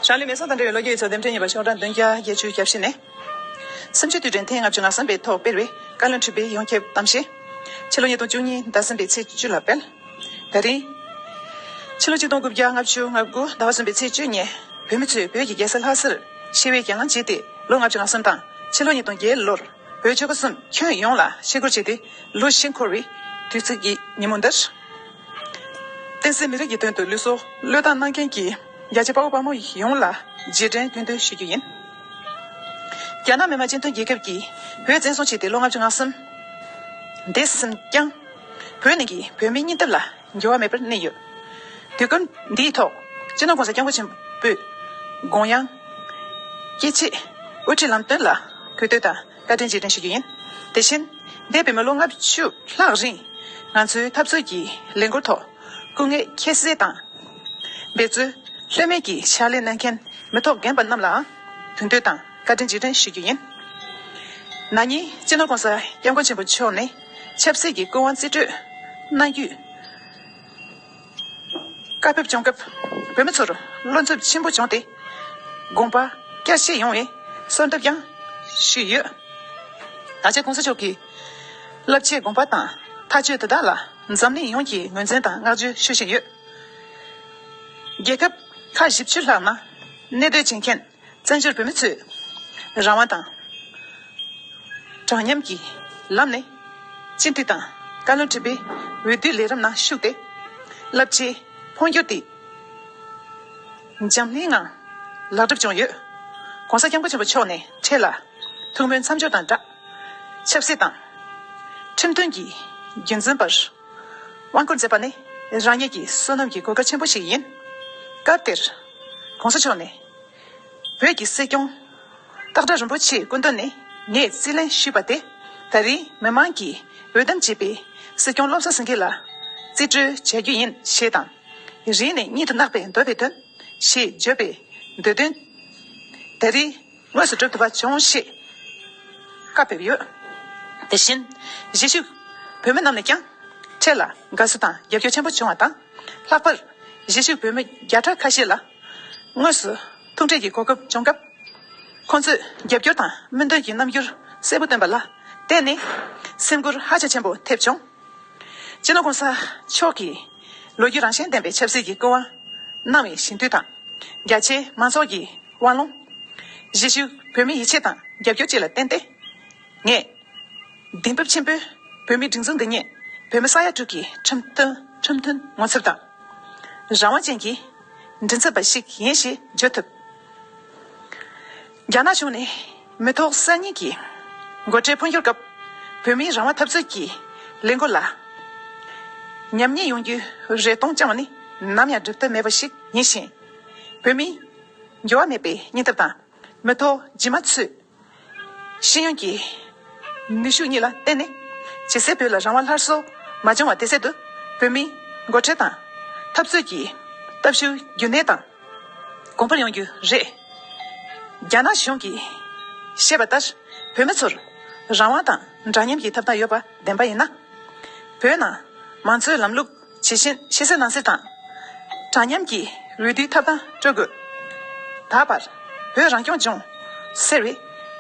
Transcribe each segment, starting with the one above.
ཞང་ལི་མེ་སོགས་དང་འབྲེལ་བའི་ལོ་བརྒྱའི་ཡུལ་ཚོ་འདེམས་ཐོན་གཉིས་པ་ཆོག་གྲངས་བདུན་བརྒྱ་བརྒྱད་ཅུའི་རྒྱབ་བཤད་ནས། སེམས་ཅན་དུས་དྲན་ཐེངས་ལྔ་བཅུ་ང་གསུམ་པའི་ཐོག་སྤེལ་བའི་བཀའ་བློན་ཁྲི་པའི་ཡོངས་ཁྱབ་གཏམ་བཤད། ཕྱི་ལོ་ཉིས་སྟོང་བཅུ་གཉིས་ཟླ་གསུམ་པའི་ཚེས་བཅུ་ལ་སྤེལ། ད་རིང། ཕྱི་ལོ་ཆིག་སྟོང་དགུ་བརྒྱ་ལྔ་བཅུ་ང་དགུ་ཟླ་བ་གསུམ་པའི་ཚེས་བཅུ་ཉིན། བོད་མི་ཚོས་བོད་ཀྱི་རྒྱལ་ས་ལྷ་སར་ཞི་བའི་གྱེན་ལངས་བྱས་ཏེ་ལོ་ལྔ་བཅུ་ང་གསུམ་དང་ཕྱི་ལོ་ཉིས་སྟོང་བརྒྱད་ལོར་བོད་ཆོལ་ཁ་གསུམ་ཁྱོན་ཡོངས་ལ་ཕྱི་བསྐོར་བྱས་ཏེ་ལོ་བཞི་འཁོར་བའི་དུས་ཚིགས་ཀྱི་ཉིན་མོ་འདིར། བསྟན་སྲིད་མི་རིགས་ཀྱི་དོན་དུ་ལུས་སྲོག་བློས་བཏང་གནང་མཁན་གྱི་རྒྱལ་གཅེས་དཔའ་བོ་དཔའ་མོ་ཡོངས་ལ་རྗེས་དྲན་སྐྱོན་འདོན་ཞུ་རྒྱུ་ཡིན། རྒྱ་ནག་མི་དམངས་སྤྱི་མཐུན་རྒྱལ་ཁབ་ཀྱིས་བོད་བཙན་བཟུང་བྱས་ཏེ་ལོ་ལྔ་བཅུ་ང་གསུམ་འདས་ཟིན་ཀྱང། བོད་ནང་གི་བོད་མིའི་སྙིང་སྟོབས་ལ་འགྱུར་བ་མེད་པར་གནས་ཡོད། དུས་སྐབས་འདིའི་ཐོག་སྤྱི་ནོར ྋགོང་ས ྋསྐྱབས་མགོན་ཆེན་པོས་དགོངས་དབྱངས། སྐྱེ་མཆེད་དབུ་ཁྲིད་ལམ་སྟོན་ལ་གུས་བསྟོད་དང། བཀའ་དྲིན་རྗེས་དྲན་ཞུ་རྒྱུ་ཡིན། དེ་བཞིན། འདས་པའི་མི་ལོ་ལྔ་བཅུ་ལྷག་རིང། ང་ཚོའི་འཐབ་རྩོད་ཀྱི་ལས་འགུལ་ཐོག་སྐུ་ངལ་ཁྱད་བསད་དང། འབད་རྩོལ་ལྷོད་མེད་ཀྱིས་ཕྱག་ལས་གནང་མཁན་མི་ཐོབ་རྒན་པ་རྣམས་ལའང་དུས་འདོད་དང་བཀའ་དྲིན་རྗེས་དྲན་ཞུ་རྒྱུ་ཡིན། ན་ནིང་སྤྱི་ནོར ྋགོང་ས ྋསྐྱབས་མགོན་ཆེན་པོ་མཆོག་ནས་ཆབ་སྲིད་ཀྱི་སྐུ་དབང་རྩིས་སྤྲོད་གནང་རྒྱུ། བཀའ་ཕེབས་བྱུང་སྐབས་བོད་མི་ཚོར་བློ་འཚབ་ཆེན་པོ་བྱུང་སྟེ་དགོངས་པ་བསྐྱར་བཤད་ཡོང་བའི་གསོལ་འདེབས་ཀྱང་ཞུས་ཡོད། ད་ཆ་གོང་ས་མཆོག་གི་བསླབ་བྱའི་དགོངས་པ་དང་མཐའ་དཔྱོད་དེ་དག་ལ་འཛམ་གླིང་ཡོངས་ཀྱིས་ངོས་འཛིན་དང་བསྔགས་བརྗོད་ཞུ་བཞིན་ཡོད། རྒྱལ་ཁབ་ཁག་བཞི་བཅུ་ལྷག་ནང་གནས་སྡོད་བྱེད་མཁན། བཙན་བྱོལ་བོད་མི་ཚོས་རང་དབང་དང། དྲང་མཉམ་གྱི་ལམ་ནས་སྤྱི་མཐུས་དང་བཀའ་བློན་ཁྲི་པའི་འོས་བསྡུའི་ལས་རིམ་ནང་ཞུགས་ཏེ། རླབས་ཆེའི་འཕོ་འགྱུར་དེ་འཇམ་སྣེའི་ངང་ལག་གྲུབ་བྱུང་ཡོད། ྋགོང་ས ྋསྐྱབས་མགོན་ཆེན་པོ་མཆོག་ནས་འཕྲལ་ལ་ཐུགས་སྨོན་མཚམས་སྦྱོར་དང་སྦྲགས། ཆབ་སྲིད་དང། ཁྲིམས་མཐུན་གྱི་རྒྱུན་འཛིན་པར་དབང་བསྐུར་མཛད་པ་ནི་རང་ཉིད་ཀྱི་བསོད་ནམས་ཀྱི་གོ་སྐབས་ཆེན་པོ་ཞིག་ཡིན། སྐབས་དེར། གོང་ས་མཆོག་ནས། བོད་ཀྱི་སྲིད་སྐྱོང། སྟག་སྒྲ་རིན་པོ་ཆེའི་སྐུ་མདུན་ནས་ངས་རྩིས་ལེན་ཞུས་པ་དེ། ད་རིང་མི་མང་གིས་འོས་འདེམས་བྱས་པའི་སྲིད་སྐྱོང་བློ་བཟང་སེང་གེ་ལ། རྩིས་སྤྲོད་བྱ་རྒྱུ་ཡིན་ཞེས་དང། རིང་ནས་གཉིད་དུ་བརྣག་པའི་འདོད་པའི་དོན། ཞེས་བརྗོད་པའི་འདོད་དོན། ད་རིང་དངོས་སུ་འགྲུབ་ཐུབ་པ་བྱུང་ཞེས་བཀའ་ཕེབས་ཡོད། དེ་བཞིན་གཞིས་བཞུགས་བོད་མི་རྣམས་ནས་ཀྱང། ཁྱེད་ལ་དགའ་བསུ་དང་རྒྱབ་སྐྱོར་ཆེན་པོ་བྱུང་བ་དང། ལྷག་པར་གཞིས་བཞུགས་བོད་མི་བརྒྱ་ཕྲག་ཁ་ཤས་ལ་དངོས་སུ་ཐུག་འཕྲད་ཀྱི་གོ་སྐབས་བྱུང་སྐབས། ཁོང་ཚོས་རྒྱབ་སྐྱོར་དང་སྨོན་འདུན་གྱི་རྣམ་འགྱུར་གསལ་པོ་བཏོན་པ་ལ་བརྟེན་ནས་སེམས་ཁུར་ཧ་ཅང་ཆེན་པོ་ཐེབས་བྱུང། སྤྱི་ལོ ྋགོང་ས་མཆོག་གིས་ལོ་རྒྱུས་རང་བཞིན་ལྡན་པའི་ཆབ་སྲིད་ཀྱི་སྐུ་དབང་གནང་བའི་ཞིང་དུད་དང། རྒྱ་ཆེའི་མང་ཚོགས་ཀྱི་དབང་ལུང། གཞིས་བཞུགས་བོད་མིའི་ཡིད་ཆེས་དང་རྒྱབ་སྐྱོར་བཅས་ལ་བརྟེན་ཏེ། ངས། གདེང་འབེབས་ཆེན་པོས་བོད་མིའི་སྒྲིག་འཛུགས་འདི་ཉིད་བོད་མི་ས་ཡ་དྲུག་གི་ཁྲིམས་མཐུན་ངོ་མཚར་དང། རང་དབང་ཅན་གྱི་མགྲིན་ཚབ་པ་ཞིག་ཡིན་ཞེས་བརྗོད་ཐུབ། རྒྱ་ནག་གཞུང་ནས་མི་ཐོག་གསར་རྙིང་གི་འགོ་ཁྲིད་འཕོ་འགྱུར་སྐབས་བོད་མིའི་རང་དབང་འཐབ་རྩོད་ཀྱི་ལས་འགུལ་ལ་ཉམས་ཉེས་ཡོང་རྒྱུའི་རེ་སྟོང་བཅངས་བ་ནི་ནམ་ཡང་སྒྲུབ་ཐབས་མེད་པ་ཞིག་ཡིན་ཞིང། བོད་མིའི་འགྱུར་བ་མེད་པའི་སྙིང་སྟོབས་དང་མི་ཐོག་རྗེས་མ་ཚོས། ཤེས་ཡོན་གྱི་ནུས་ཤུགས་གཉིས་ལ་བརྟེན་ནས། ཇེ་སེར་བོད་ལ་རང་དབང་སླར་གསོ་མ་བྱུང་བ་དེ་སེལ་དུ། བོད་མིའི་མགོ་ཁྲིད་དང་འཐབ་རྩོད་ཀྱི་སྟབས་ཤུགས་རྒྱུན་གནས་དང་གོང་འཕེལ་ཡོང་རྒྱུ་རེད། རྒྱ་ནག་གཞུང་གིས་བཤད་པ་ལྟར་བོད་མི་ཚོར་རང་དབང་དང་འདྲ་མཉམ་གྱི་ཐབས་དང་ཡོད་པ་བདེན་པ་ཡིན་ན། བོད་ནང་མང་གཙོའི་ལམ་ལུགས། ཇི་བཞིན་ཕྱི་གསལ་ནང་གསལ་དང། དྲང་མཉམ་གྱི་འོས་བསྡུའི་ཐབས་དང་སྤྲོད་དགོས། ད་བར་བོད་རང་སྐྱོང་ལྗོངས་ཟེར་བའི་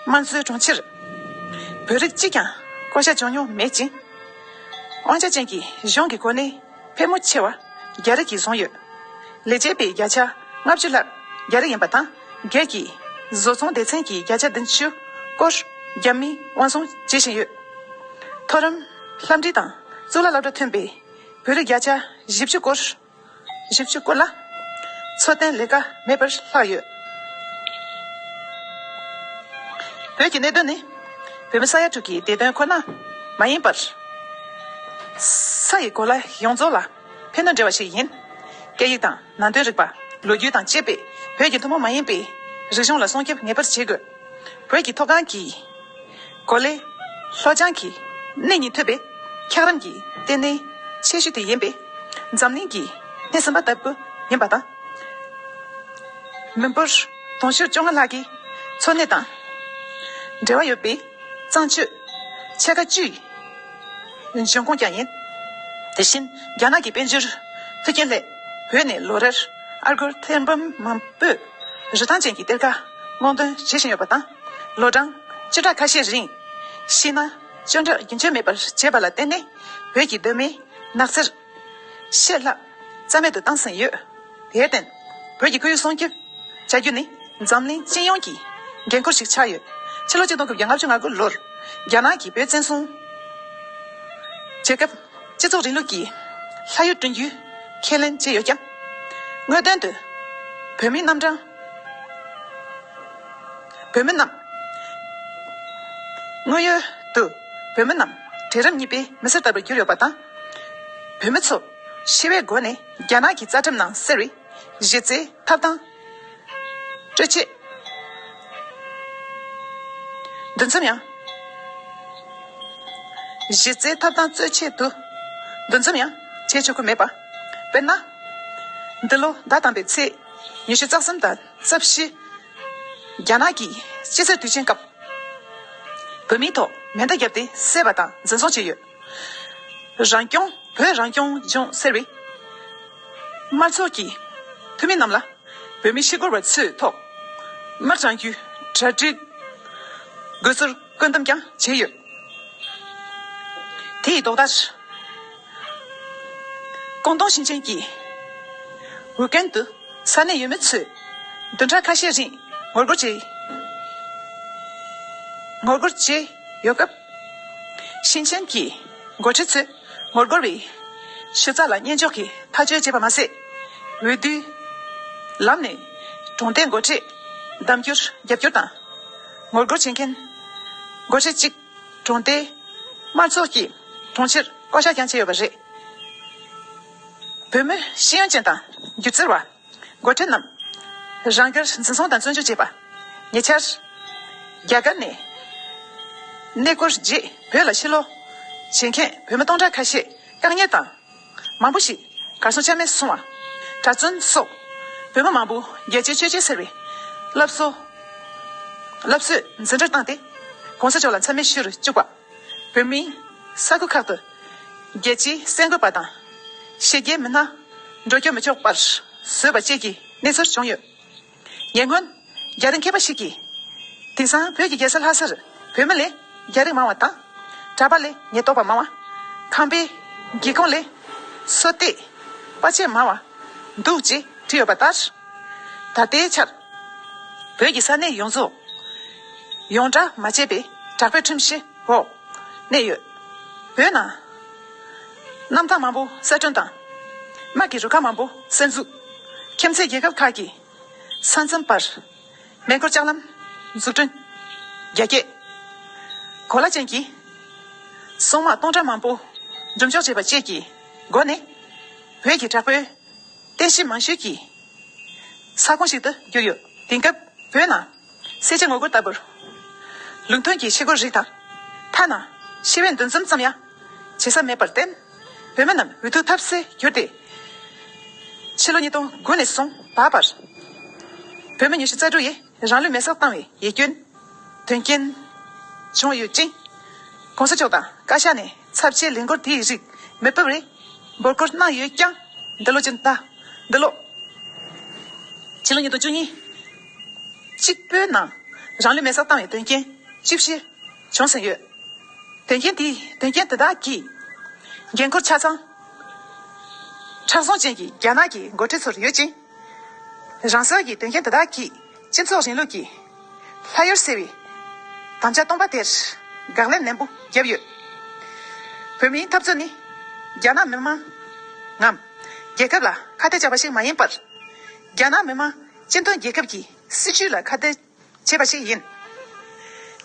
དམངས་གཙོའི་གྲོང་ཁྱེར། བོད་རིགས་གཅིག་ཀྱང་བསྐོ་གཞག་བྱུང་མྱོང་མེད་ཅིང། དབང་ཆ་ཅན་གྱི་གཞུང་གི་གོ་གནས་ཕལ་མོ་ཆེ་བ་རྒྱ་རིགས་ཀྱིས་བཟུང་ཡོད། ལས་བྱེད་པའི་བརྒྱ་ཆ་ལྔ་བཅུ་ལྷག་རྒྱ་རིགས་ཡིན་པ་དང། བརྒྱད་ཀྱིས། བཟོ་ཚོང་སྡེ་ཚན་གྱིས་བརྒྱ་ཆ་བདུན་ཅུ་སྐོར་རྒྱ་མིས་དབང་བཟུང་བྱེད་བཞིན་ཡོད། མཐོ་རིམ། ལྷ་འབྲི་དང། གཙུག་ལག་བླ་གྲྭ་ཐོན་པའི་བོད་རིགས་བརྒྱ་ཆ་བཞི་བཅུ་སྐོར། བཞི་བཅུ་སྐོར་ལ། འཚོ་རྟེན་ལས་ཀ་མེད་པར་ལྷག་ཡོད། བོད་ཀྱི་གནད་དོན་ནི། བོད་མི་ས་ཡ་དྲུག་གི་བདེ་དོན་ཁོ་ན་མ་ཡིན་པར། ས་ཡི་གོ་ལ་ཡོངས་རྫོགས་ལ། ཕན་དང་འབྲེལ་བ་ཞིག་ཡིན། སྐད་ཡིག་དང་ནང་དོན་རིག་པ། ལོ་རྒྱུས་དང་བཅས་པས་བོད་ཀྱི་ཐུན་མོང་མ་ཡིན་པའི། རིག་གཞུང་ལ་སྲུང་སྐྱོབ་ངེས་པར་བྱེད་དགོས། བོད་ཀྱི་མཐོ་སྒང་གི། གོ་ལའི། ལྷོ་བྱང་གི། གནས་ཉིད་ཐོས་པའི། འཁྱགས་རོམ་གྱི། ལྟེ་གནས། ཆེ་ཤོས་དེ་ཡིན་པས། འཛམ་གླིང་གི། སྣེ་ཟིན་པ་ལྟ་བུ། ཡིན་པ་དང། མི་འབོར། དུང་ཕྱུར་བཅོ་ལྔ་ལྷག་གི། འཚོ་གནས་དང། འབྲེལ་བ་ཡོད་པའི། གཙང་ཆུ། ཕྱེད་ཀ་བཅུའི། འབྱུང་ཁུངས་ཀྱང་ཡིན། དེ་བཞིན་རྒྱ་ནག་གི་དཔལ་འབྱོར་འཕེལ་རྒྱས་སླད། བོད་ནས་ལོ་རེར་ཨ་སྒོར་ཐེར་འབུམ་མང་པོས་རིན་ཐང་ཅན་གྱི་གཏེར་ཁ་སྔོག་འདོན་བྱེད་བཞིན་ཡོད་པ་དང། ལོ་གྲངས་བཅུ་ཕྲག་ཁ་ཤས་རིང། ཤི་ན་སྤྱོད་འབྲས་རྒྱུན་ཆད་མེད་པར་བྱས་པ་ལ་བརྟེན་ནས་བོད་ཀྱི་གདོད་མའི་ནགས་ཚལ། ཤེས་སླ། རྩ་མེད་དུ་བཏང་ཟིན་ཡོད། དེར་བརྟེན། བོད་ཀྱི་ཁོར་ཡུག་སྲུང་སྐྱོབ། བྱ་རྒྱུ་ནི། འཛམ་གླིང་སྤྱི་ཡོངས་ཀྱི། འགན་ཁུར་ཞིག་ཆགས་ཡོད། ཕྱི་ལོ་གཅིག་སྟོང་དགུ་བརྒྱ་ལྔ་བཅུ་ང་དགུ་ལོར། རྒྱ་ནག་གིས་བོད་བཙན་བཟུང། བྱས་སྐབས། སྤྱི་ཚོགས་རིང་ལུགས་ཀྱི། ལྷ་ཡུལ་བསྐྲུན་རྒྱུའི། ཁས་ལེན་བྱས་ཡོད་ཀྱང། དངོས་དོན་དུ། བོད་མི་རྣམས་དྲང། བོད་མི་རྣམས། དངོས་ཡོད་དུ། བོད་མི་རྣམས། གྲལ་རིམ་གཉིས་པའི་མི་སེར་ལྟ་བུར་གྱུར་ཡོད་པ་དང། བོད་མི་ཚོ། ཞི་བའི་སྒོ་ནས་རྒྱ་ནག་གི་རྩ་ཁྲིམས་ནང་གསེར་རི། གཞི་རྩའི་ཐབ་ཐང། སྤྲོད་ཆེད། འདུ་འཛོམས་ཡང། གཞི་རྩའི་ཐབ་ཐང་རྩོད་ཆེད་དུ། འདུ་འཛོམས་ཡང། བྱེད་ཆོག་གི་མེད་པ། དཔེར་ན། འདི་ལོ་ཟླ་དང་པའི་ཚེས་ཉི་ཤུ་རྩ་གསུམ་དང་རྩ་བཞི། རྒྱ་ནག་གིས་ཕྱི་ཚེས་དུས་ཆེན་སྐབས། བོད་མིའི་ཐོག་མེ་མདའ་བརྒྱབ་སྟེ་བསད་པ་དང་འཛིན་བཟུང་བྱས་ཡོད། རང་སྐྱོང་བོད་རང་སྐྱོང་ལྗོངས་ཟེར་བའི། དམར་ཚོགས་ཀྱི་འཐུས་མི་རྣམས་ལ། བོད་མི་ཤི་འཁོར་བ་ཚོའི་ཐོག། དམར་སྤྱང་རྒྱུའི་གྲ་སྒྲིག་དགོས་ཚུལ་བཀོད་འདོམས་ཀྱང་བྱས་ཡོད། དེ་ཡི་ལྡོག་ཟླར། ཀོང་ཏུང་ཞིང་ཆེན་གྱི་ཝུའུ་ཀན་དུ་ས་གནས་ཡུལ་མི་ཚོས་བདུན་ཕྲག་ཁ་ཤས་རིང་ངོ་རྒོལ་བྱས། ངོ་རྒོལ་བྱས་ཡོད་སྐབས། ཞིང་ཆེན་གྱི་འགོ་ཁྲིད་ཚོས་ངོ་རྒོལ་བའི་གཞི་རྩ་ལ་བརྙས་འཇོག་གིས་མཐའ་དཔྱོད་བྱས་པ་མ་ཟད། འོས་བསྡུའི་ལམ་ནས་གྲོང་སྡེའི་འགོ་ཁྲིད་གདམ་རྒྱུར་རྒྱབ་སྐྱོར་དང། ངོ་རྒོལ་བྱེད་མཁན་འགོ་ཁྲིད་གཅིག་གྲོང་སྡེའི་དམར་ཚོགས་ཀྱི་དྲུང་ཆེར་བསྐོ་གཞག་ཀྱང་བྱས་ཡོད་པ་རེད། བོད་མི་ཤེས་ཡོན་ཅན་དང་སྒྱུ་རྩལ་བ། མགོ་ཁྲིད་རྣམས། རང་རྒྱུད་འཛིན་བཟུང་དང་བཙོན་འཇུག་བྱས་པ། ཉེ་ཆར། རྒྱ་གར་ནས། གནས་སྐོར་རྗེས་བོད་ལ་ཕྱིར་ལོག། བྱེད་མཁན་བོད་མི་སྟོང་ཕྲག་ཁ་ཤས་བཀག་ཉར་དང། མང་པོ་ཞིག་གར་སོང་ཆ་མེད་སོང་བ། གྲྭ་བཙུན་སོགས་བོད་མི་མང་པོ་རྒྱལ་གཅེས་ཆོས་གཅེས་ཟེར་བའི། སླབ་གསོ། སླབ་གསོས་འཛིན་གྲྭར་བཏང་སྟེ། གོང་ས་མཆོག་ལ་འཚམས་མེད་ཞུ་རུ་བཅུག་པ། བོད་མི། ས་ཁུལ་ཁག་ཏུ། རྒྱལ་སྤྱིའི་གསལ་འགོད་པ་དང། ཤེས་རྒྱའི་མི་སྣ། འགྲོ་སྐྱོད་མི་ཆོག་པར་བཟོས་པ་བཅས་ཀྱི་གནས་ཚུལ་བྱུང་ཡོད། ཉེ་སྔོན། རྒྱ་རིགས་མཁས་པ་ཞིག་གིས། དེང་སང་བོད་ཀྱི་རྒྱལ་ས་ལྷ་སར་བོད་མི་ལས་རྒྱ་རིགས་མང་བ་དང། གྲྭ་པ་ལས་ཉེན་རྟོག་པ་མང་བ། ཁང་པའི་སྒེའུ་ཁུང་ལས་སོ་བཏེགས་པ་བཅས་མང་བ་འདུག་ཅེས་བྲིས་ཡོད་པ་ལྟར། ད་ལྟའི་ཆར། བོད་ཀྱི་ས་གནས་ཡོངས་རྫོགས། ཡོངས་གྲགས་མ་བྱས་པའི་གྲགས་པའི་ཁྲིམས་བཞི་འོག་གནས་ཡོད། བོད་ནང། གནམ་ཐང་མང་པོ་གསར་སྐྲུན་དང། དམག་གི་རུ་ཁག་མང་པོ་གསར་འཛུགས། ཁྱིམ་མཚེས་རྒྱལ་ཁབ་ཁག་གི་ས་མཚམས་བར་མེ་འཁོར་ལྕགས་ལམ་འཛུགས་སྐྲུན། རྒྱ་སྐྱེད་གོ་ལ་ཅན་གྱི་སོག་དམག་སྟོང་ཕྲག་མང་པོ་སྒྲུབ་འཇོག་བྱས་པ་བཅས་ཀྱི་སྒོ་ནས། བོད་ཀྱི་དྲག་པོའི་རྟེན་གཞི་མང་ཤོས་ཀྱི་ས་ཁོངས་ཤིག་ཏུ་གྱུར་ཡོད། དེང་སྐབས་བོད་ནང། གསལ་བྱེད་ངོ་རྒོལ་ལྟ་བུར། ལུགས་མཐུན་གྱི་ཕྱི་རྒོལ་རིགས་དང། ཐ་ན། ཤི་བའི་འདུ་འཛོམས་ཙམ་ཡང། བྱེད་ས་མེད་པར་བརྟེན། བོད་མི་རྣམས་འུ་ཐུག་ཐབས་ཟད་གྱུར་ཏེ། ཕྱི་ལོ་ཉིས་སྟོང་དགུ་ནས་བཟུང་ད་བར། བོད་མི་ཉི་ཤུ་རྩ་དྲུག་ཡིས་རང་ལུས་མེ་སྲེག་བཏང་བའི་ཡིད་སྐྱོན། དོན་རྐྱེན། བྱུང་ཡོད་ཅིང། གོང་ས་མཆོག་དང་བཀའ་ཤག་ནས་ཚབས་ཆེའི་ལས་འགུལ་དེ་ཡི་རིགས་མི་སྤེལ་བའི། འབོད་སྐུལ་གནང་ཡོད་ཀྱང། འདི་ལོ་ཕྱི་ཟླ། འདི་ལོ། ཕྱི་ལོ་ཉིས་སྟོང་བཅུ་གཉིས། གཅིག་པོའི་ནང། རང་ལུས་མེ་སར་བཏང་བའི་དོན་རྐྱེན་ཅི་བཞི་བྱུང་ཟིན་ཡོད། དོན་རྐྱེན་དེ་དོན་རྐྱེན་དེ་དག་གི་འགན་ཁུར་ཆ་ཚང། ཕྲག་ཟུང་ཅན་གྱི་རྒྱ་ནག་གི་མགོ་ཁྲིད་ཚོར་ཡོད་ཅིང། རང་སོ་ཡིས་དོན་རྐྱེན་དེ་དག་གིས་སྤྱི་ཚོགས་རིང་ལུགས་ཀྱི་ལྷ་ཡུལ་ཟེར་བའི་དམ་བཅའ་སྟོང་པ་དེར་དགག་ལན་ནན་པོ་བརྒྱབ་ཡོད། བོད་མིའི་འཐབ་རྩོད་ནི་རྒྱ་ནག་མི་དམངས་ངམ་རྒྱལ་ཁབ་ལ་ཁ་གཏད་བཅག་པ་ཞིག་མ་ཡིན་པར། རྒྱ་ནག་མི་དམངས། སྤྱི་མཐུན་རྒྱལ་ཁབ་ཀྱི་སྲིད་ཇུས་ལ་ཁ་གཏད་བྱས་པ་ཞིག་ཡིན།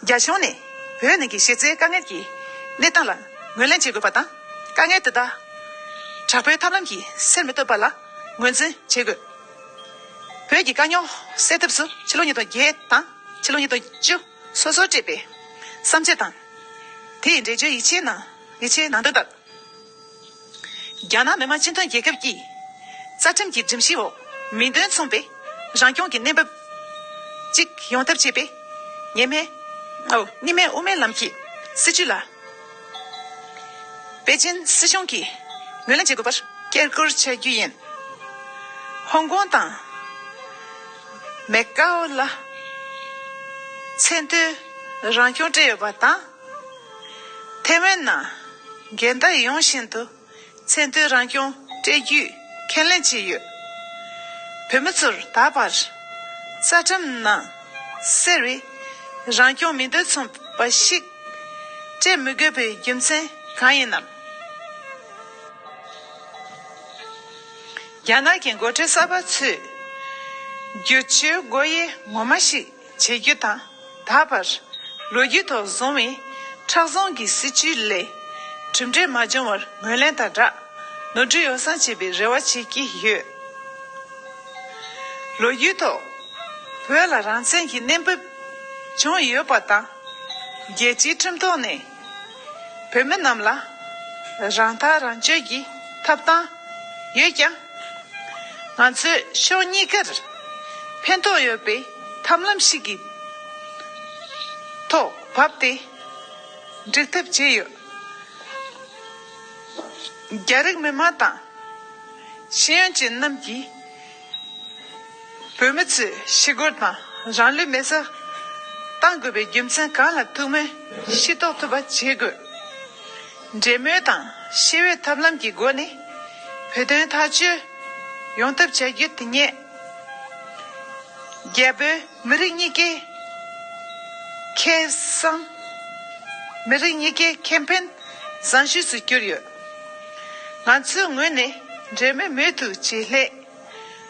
རྒྱ་གཞུང་ནས་བོད་ནང་གི་གཞི་རྩའི་དཀའ་ངལ་གྱི་གནས་སྟངས་ལ་ངོས་ལེན་བྱེད་དགོས་པ་དང། དཀའ་ངལ་དེ་དག་དྲག་པོའི་ཐབས་ལམ་གྱིས་སེལ་མི་ཐུབ་པ་ལ་ངོས་འཛིན་བྱེད་དགོས། བོད་ཀྱི་དཀའ་རྙོག་སེལ་ཐབས་སུ་ཕྱི་ལོ་ཉིས་སྟོང་བརྒྱད་དང་ཕྱི་ལོ་ཉིས་སྟོང་བཅུ་སོ་སོར་སྤྲད་པའི་བསམ་འཆར་དང་དེའི་འགྲེལ་བརྗོད་ཡིག་ཆའི་ནང་དོན་ལྟར། རྒྱ་ནག་མི་དམངས་སྤྱི་མཐུན་རྒྱལ་ཁབ་ཀྱིས། རྩ་ཁྲིམས་ཀྱི་སྒྲིམ་གཞིའི་འོག་མིང་དོན་མཚུངས་པའི་རང་སྐྱོང་གི་གནས་བབ་ཅིག་ཡོང་ཐབས་བྱེད་པའི། ཉེས་མེད། གཉིས་མེད་དབུ་མའི་ལམ་གྱི་སྲིད་བྱུས་ལ། པེ་ཅིན་སྲིད་གཞུང་གིས་ངོས་ལེན་བྱེད་དགོས་པར་སྐྱེལ་སྐུར་བྱ་རྒྱུ་ཡིན། ཧོང་ཀོང་དང། མེ་ཀའོ་ལ། ཚད་མཐོའི་རང་སྐྱོང་སྤྲད་ཡོད་པ་དང། ཐའེ་ཝན་ནང། འགལ་ཟླ་ཡོང་བཞིན་དུ། ཚད་མཐོའི་རང་སྐྱོང་སྤྲད་རྒྱུའི་ཁས་ལེན་བྱས་ཡོད། བོད་མི་ཚོར་ད་བར། རྩ་ཁྲིམས་ནང་གསལ་བའི། རང་སྐྱོང་མི་འདོད་མཚུངས་པ་ཞིག། སྤྲད་མི་དགོས་པའི་རྒྱུ་མཚན་གང་ཡིན་ནམ། རྒྱ་ནག་གི་མགོ་ཁྲིད་གསར་པ་ཚོས། བསྒྱུར་བཅོས་སྒོ་དབྱེ་ངོ་མ་ཞིག། བྱེད་རྒྱུ་དང། ད་བར། ལོ་རྒྱུས་ཐོག་བཟུང་བའི། ཁྲག་བཟང་གི་སྲིད་བྱུས་ལས། གྲུབ་འབྲས་མ་བྱུང་བར་ངོས་ལེན་དང་སྦྲགས། ནོར་འཁྲུལ་ཡོ་བསྲང་བྱེད་པའི་རེ་བ་བྱེད་ཀྱི་ཡོད། ལོ་རྒྱུས་ཐོག། བོད་ལ་རང་བཙན་གྱི་གནས་བབ། བྱུང་ཡོད་པ་དང། རྒྱལ་སྤྱིའི་ཁྲིམས་ཐོག་ནས། བོད་མི་རྣམས་ལ། རང་ཐག་རང་གཅོད་ཀྱི་ཐབས་སྟངས་ཡོད་ཀྱང། ང་ཚོས་ཕྱོགས་གཉིས་ཀར་ཕན་ཐོགས་ཡོད་པའི་ཐབས་ལམ་ཞིག་གི་ཐོག་བབས་ཏེ་འགྲིག་ཐབས་བྱས་ཡོད། རྒྱ་རིགས་མི་དམངས་དང། ཤེས་ཡོན་ཅན་རྣམས་ཀྱིས། བོད་མི་ཚོས་ཞི་རྒོལ་དང་རང་ལུས་མེར་སྲེག་གཏང་དགོས་པའི་རྒྱུ་མཚན་གང་ལ་ཐུག་མིན་ཤེས་རྟོགས་ཐུབ་པ་བྱེད་དགོས། འབྲེལ་མོལ་དང་ཤེས་བའི་ཐབས་ལམ་གྱི་སྒོ་ནས་བོད་དོན་ཐག་གཅོད་ཡོང་ཐབས་བྱ་རྒྱུ་དེ་ཉིད། རྒྱ་བོད་མི་རིགས་གཉིས་ཀའི་ཁེ་བཟང། མི་རིགས་གཉིས་ཀའི་ཁེ་ཕན་བཟང་ཤོས་སུ་གྱུར་ཡོད། ང་ཚོའི་ངོས་ནས་འབྲེལ་མེད་མེད་དུ་བྱེད་སླད།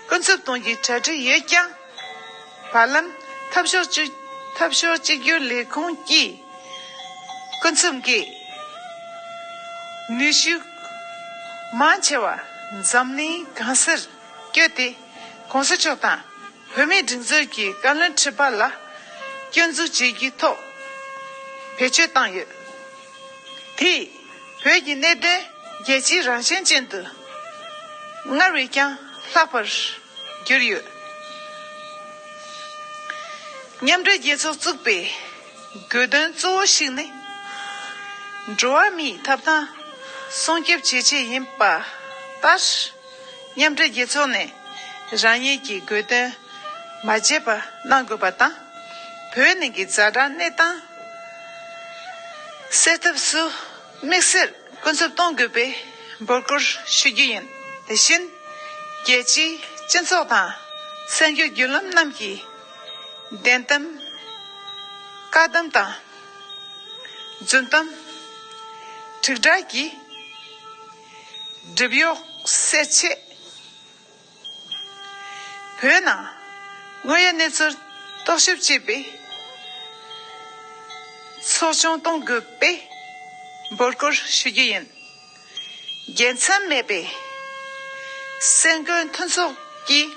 ཀུན་རྫོབ་སྟོང་གི་གྲ་སྒྲིག་ཡོད་ཀྱང། བར་ལམ་འཐབ་ཕྱོགས་གཅིག་གྱུར་ལས་ཁུངས་ཀྱིས། ཀུན་རྫོབ་ཀྱི་ནུས་ཤུགས་མང་ཆེ་བ་འཛམ་གླིང་གང་སར་བསྐྱོད་དེ། གོང་ས་མཆོག་དང་བོད་མིའི་སྒྲིག་འཛུགས་ཀྱི་བཀའ་བློན་ཁྲི་པ་ལ་སྐྱོན་འཛུགས་བྱེད་རྒྱུའི་ཐོག་བེད་སྤྱོད་བཏང་ཡོད་དེ། བོད་ཀྱི་གནས་བརྟན་རྒྱལ་སྤྱིའི་རང་བཞིན་ཅན་དུ་སྔར་བས་ཀྱང་ལྷག་པར་གྱུར་ཡོད། མཉམ་འབྲེལ་རྒྱལ་ཚོགས་བཙུགས་པའི་དགོས་དོན་གཙོ་བོ་ཞིག་ནི། འགྲོ་བ་མིའི་ཐབ་ཐང་སྲུང་སྐྱོབ་བྱེད་ཆེད་ཡིན་པ་ལྟར། མཉམ་འབྲེལ་རྒྱལ་ཚོགས་ནས་རང་ཉིད་ཀྱི་དགོས་དོན་མ་བརྗེད་པ་གནང་དགོས་པ་དང། བོད་ནང་གི་རྫ་དྲག་གནས་སྟངས་སེལ་ཐབས་སུ་དམིགས་བསལ་ཀུན་སྤྱོད་གཏོང་དགོས་པའི་འབོད་སྐུལ་ཞུ་རྒྱུ་ཡིན། དེ་བཞིན་རྒྱལ་སྤྱིའི་སྤྱི་ཚོགས་དང་གསར་འགྱུར་བརྒྱུད་ལམ་རྣམས་ཀྱིས་བདེན་གཏམ། བཀའ་གཏམ་དང། རྫུན་གཏམ། དྲིལ་བསྒྲགས་ཀྱི། སྒྲིབ་གཡོགས་བསལ་བྱེད། བོད་ནང་དངོས་ཡོད་གནས་ཚུལ་རྟོག་ཞིབ་ཅེས་པའི་ཚོགས་ཆུང་གཏོང་དགོས་པའི་འབོད་སྐུལ་ཞུ་རྒྱུ་ཡིན། དགེ་མཚན་མེད་པའི་སེམས་འགུལ་མཐུན་ཚོགས་ཀྱིས་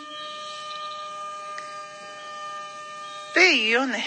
བོད་ཡུལ་ཡོངས་ནས།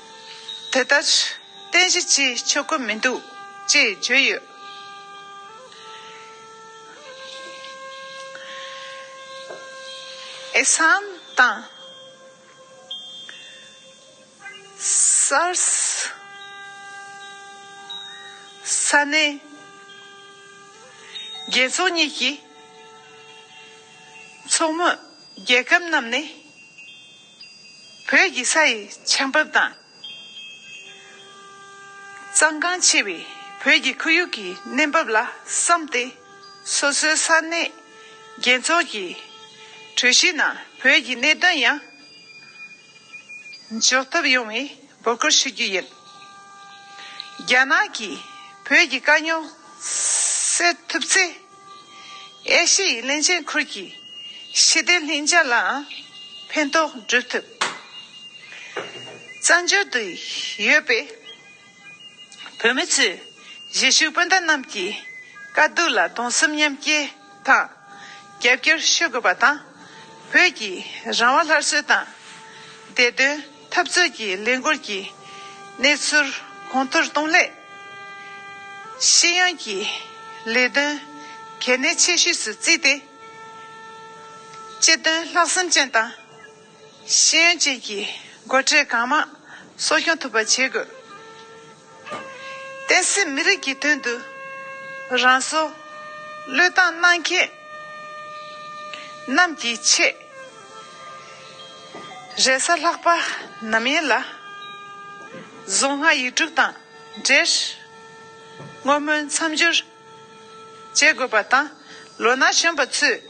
དེ་ལྟར་བསྟན་གཞི་ཅིས་ཆོས་སྐུ་མི་འདུག། ཅེས་བརྗོད་ཡོད། ཨེ་སངས་དང། སར་ནེ། རྒྱལ་ཚོགས་གཉིས་ཀྱི། ཚོགས་མི་རྒྱལ་ཁབ་རྣམས་ནས། བོད་ཀྱི་ས་ཡི་ཆར་འབབ་དང། གཙང་ཁང་ཆེ་བའི་བོད་ཀྱི་ཁོར་ཡུག་གི་གནས་བབ་ལ་བསམ་སྟེ། སོ་སོའི་ས་གནས་རྒྱལ་ཚོགས་ཀྱི་གྲོས་གཞིའི་ནང་བོད་ཀྱི་གནད་དོན་ཡང་འཇོག་ཐབས་ཡོང་བའི་འབོད་སྐུལ་ཞུ་རྒྱུ་ཡིན། རྒྱ་ནག་གིས་བོད་ཀྱི་དཀའ་རྙོག་སེལ་ཐུབ་ཚེ། ཨེ་ཤེ་ཡི་གླིང་ཆེན་ཁུལ་གྱི་ཞི་བདེ་ལྷིང་འཇགས་ལའང་ཕན་ཐོགས་བསྒྲུབ་ཐུབ། བཙན་བྱོལ་དུ་ཡོད་པའི་བོད་མི་ཚོས་གཞིས་བཞུགས་སྤུན་ཟླ་རྣམས་ཀྱི་དཀའ་སྡུག་ལ་གདུང་སེམས་མཉམ་སྐྱེ་དང་རྒྱབ་སྐྱོར་ཞུ་དགོས་པ་དང། བོད་ཀྱི་རང་དབང་སླར་གསོའི་དང་བདེ་དོན། འཐབ་རྩོད་ཀྱི་ལས་འགུལ་གྱི་གནས་ཚུལ་གོང་མཐོར་གཏོང་སླད། ཤེས་ཡོན་གྱི་ལས་དོན་གལ་གནད་ཆེ་ཤོས་སུ་བརྩིས་ཏེ། དཔྱད་དོན་ལྷག་བསམ་ཅན་དང་ཤེས་ཡོན་ཅན་གྱི་མགོ་ཁྲིད་གང་མང་གསོ་སྐྱོང་ཐུབ་པ་བྱེད་དགོས། བསྟན་སྲིད་མི་རིགས་ཀྱི་དོན་དུ། རང་བཟོ། བློས་བཏང་གནང་མཁན། རྣམས་ཀྱི་ཆེད། རེ་ས་ལྷག་པ་ནམ་ཡིན་ལ། གཟུངས་སྔགས་ཡིག་དྲུག་དང་འབྲེལ། བསྔོ་སྨོན་མཚམས་སྦྱོར། བྱེད་དགོས་པ་དང། ལོ་ན་གཞོན་པ་ཚོས།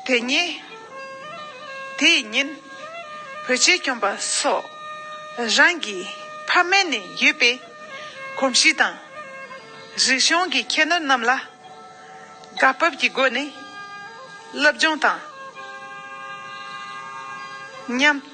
དེ་ཉིན། དེ་ཡི་ཉིན། བོད་ཆས་གྱོན་པ་སོགས། རང་གི་ཕ་མེས་ནས་ཡོད་པའི། གོམས་གཤིས་དང། རིག་གཞུང་གི་ཁྱད་ནོར་རྣམས་ལ། བཀའ་བབས་ཀྱི་སྒོ་ནས། སློབ་སྦྱོང་དང། ཉམས།